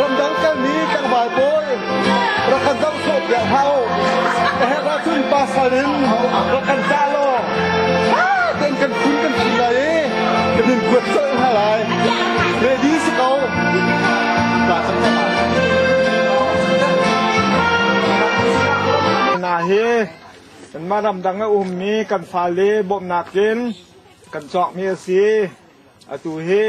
Ramdang kalmi tlangval pawl rak kan zam sawh piak hau. A herh ahcun pasal in rak kan dah law kan kan kun kan sin lai i kan in kuat colh hna lai. Ready si ko. Ba tam tam ah. Hna hi kanmah ramdang a ummi kan fale bawmhnak in kan cawkmi a si. atu hi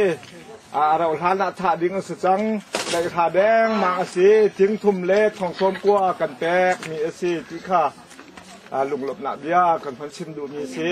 a rauh hlan ah thah ding a si cang tlaihra dengmang a si thingthum le thongsawm kua kan pek mi a si ti kha lunglawmhnak bia kan hman chim duhmi si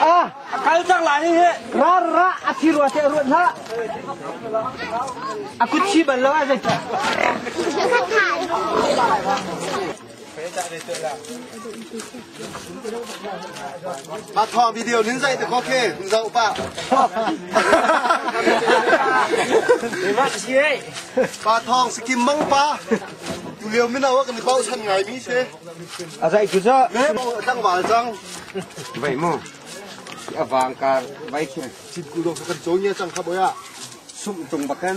A kal cang lai hi. Rar ra a thi rua te ruat hna. A kut chi bal lo a zai. Ka kai. Mah thawng video nin zai te kho khe hun zoh pa. Pa thawng sikim mang pa. Tu leo min awa kan bau san ngai mi se. Azai tu za. Me bau dang wal chang. Vậy mu. Avang kar vai chung. Chit ku lo kan chong ya chang kha boya. Sum tung bakan.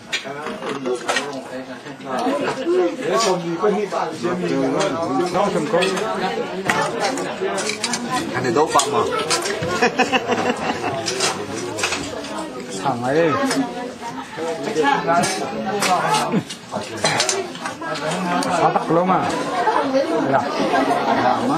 Kan i do pak ma? Sang ai. Satak lo ma. Ya. Ya ma.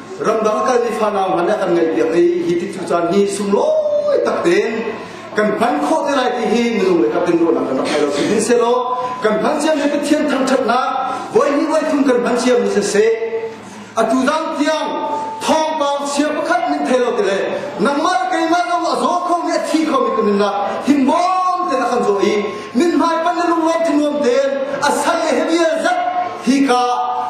ramdang a kalmi fanau hna nih kan ngaihpiak i hi ti cu caan hi sunglawi takte kan hman khawh te lai ti hi minung le kaptin ruahnak kan rak thai lo si hin selaw kan hman ciam hi pathian thangthatnak voi hnih voi thum kan hman ciam ni sese atu dang tiang thawngpang chia pakhat min thei lo te le nangmah keimah nangmah zaw kho mi a thi kho mi kan na himbawm te na kan zaw i mithmai pan na lunglen thanuam te a sai le hebia zat hi ka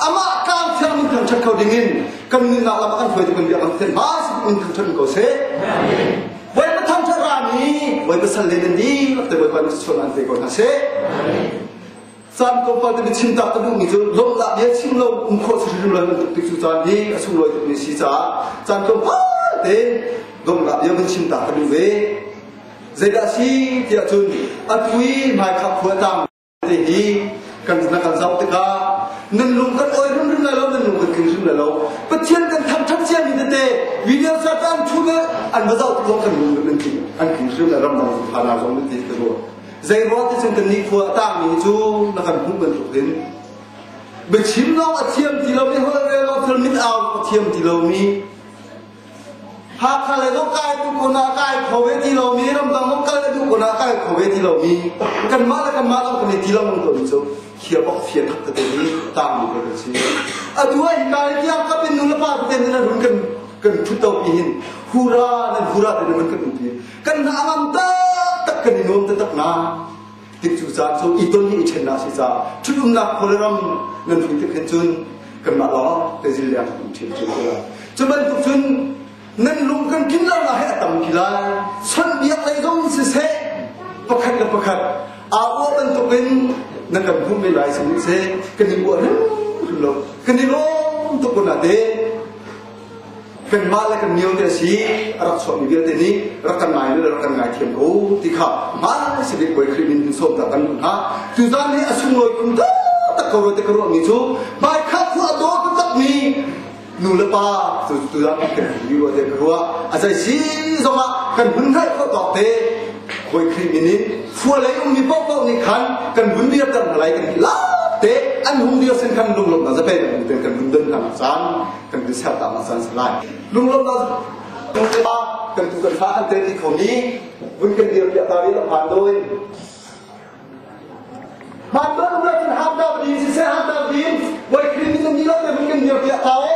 ama kang thiang nun thang chat kho ding in kan ni na lam an phoi kan bia kan ten ma si un thang chat ko se wai pa thang chat ra mi wai pa san le ni lak te wai pa ni chon an te ko na se chan ko pa te chin ta ta du ni chu lom da bia chim lo um kho si ru lan tuk ti chu chan ni a sung loi tuk ni si cha chan ko pa te dom la bia mun chim ta ta du ve Zeidah si tiah cun a thui hmaikhah khua tang te hi kan na kan zoh tikah nan lung kan oi rum rum lai lo nan lung kan tling rum lai lo Pathian kan thang ṭhan cia mi tete video satan thu le an va zoh tikah kan lung an tling an tling rum lai ram dang phana zong nan ti ka ruah zei ruah ti cun kan ni khua tang mi cu na kan hmuh bantuk in biachim nong a thiam ti lo mi hol re lo thil mit au a thiam ti lo mi Hakha le duk kai tu kun ah kai kho ve ti lomi ramdang dong kal le duh kun ah kai kho ve ti lomi kanmah le kanmah lo kan i ti lo mun to mi cu khia bok fia thak te hi tam bu ko kan si atu ai kai tiang ka pin nu le pa te ni run kan kan thu to pi hin hura ne hura ne man kan ti kan na ngam ta tak kan i nom te tak na Tik cu caan cu i ton hi i ṭhen a si caah ṭhitumnak khual ram nan hlui tik hin cun kanmah lawng te zil liang um ṭhin cu cu bantuk cun nan lung kan tlin lo lai a tam ki lai sonbiak lei zong siseh pakhat le pakhat aa bantuk in na kan hum ve lai sih se kan i uah hrim lo kan i lawm tuk ko na te kanmah le kan miote a si a rak chuahmi vialte nih rak kan ngai le rak kan ngaithiam ko ti kha hmaan sakit puai khrih min sawm ta kan hna tu zan nih a sunglawi kum tak ko te ka ruahmi cu bai kha khu a daw ka takmi nu le pa tu tu zan kan hi ruah te ka ruah a zai si zongah kan hun rai ko dok te puai khrih min in phua lei ummi popo nih khan kan hun dir kan lai kan hi la te an hung dir sin kan lunglom na zape kan kan hun den hlang chan kan ti ser ta ma san lai lunglam da kan te ba kan tu kan fa kan te ti khomi vun kan dir piah ta ri la pan doin man ba na kan ham da din si se ham da din wai krimin ni lo te vun kan dir piah ta e